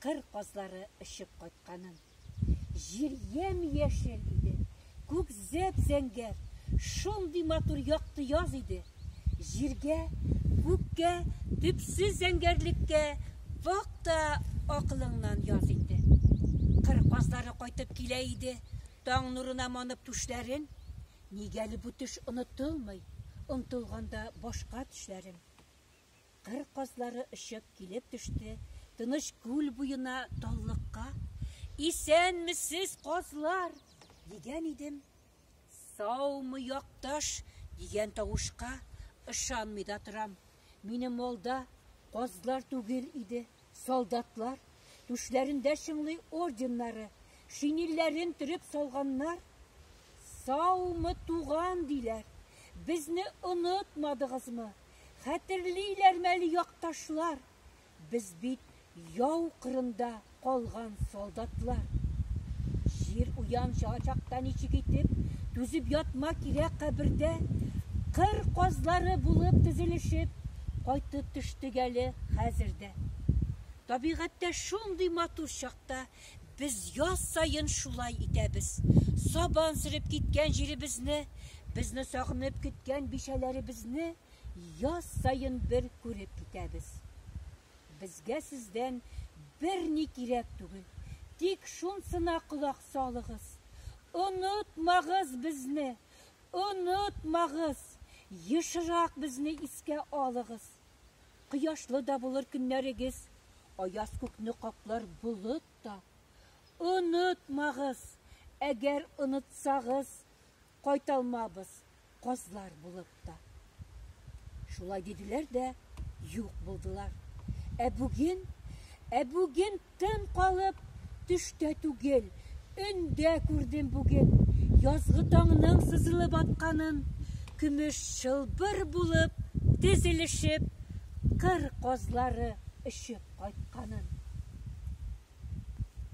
кыр казлары очып кайтканын. Җир ямь-яшел иде, күк зәп-зәңгәр, шундый матур якты яз иде. Җиргә, күккә, төпсез зәңгәрлеккә бак та акылыңнан яз инде. Кыр казлары кайтып килә иде, таң нурына манып түшләрен. Нигәли бу төш онытылмый, онтылганда башка төшләрем. Кыр казлары очып килеп төште Тыныч күл буена таллыкка. Исәнмесез, казлар! дигән идем. Саумы, якташ! дигән тавышка ышанмый да торам. Минем алда казлар түгел иде, солдатлар. Түшләрендә чыңлый орденнары, шинилләрен төреп салганнар. Саумы, туган, диләр. Безне онытмадыгызмы? Хәтерлиләрме әле якташлар, без бит яу кырында калган солдатлар. Җир уянча чакта ничек итеп түзеп ятма кирәк кабердә, кыр казлары булып тезелешеп, кайтып төштек әле хәзер дә. Табигатьтә шундый матур чакта Без яз саен шулай итәбез. Сабан сөреп киткән җиребезне, безне сагынып көткән бичәләребезне яз саен бер күреп китәбез. Безгә сездән берни кирәк түгел, тик шунсына колак салыгыз, онытмагыз безне, онытмагыз, ешрак безне искә алыгыз. Кояшлы да булыр көннәрегез, аяз күкне каплар болыт та. Онытмагыз, әгәр онытсагыз, кайталмабыз казлар булып та. Шулай диделәр дә юк булдылар. Ә бүген, ә бүген Тын калып, төштә түгел, өндә күрдем бүген Язгы таңның сызылып атканын, Көмеш чылбыр булып тезелешеп, Кыр казлары очып кайтканын.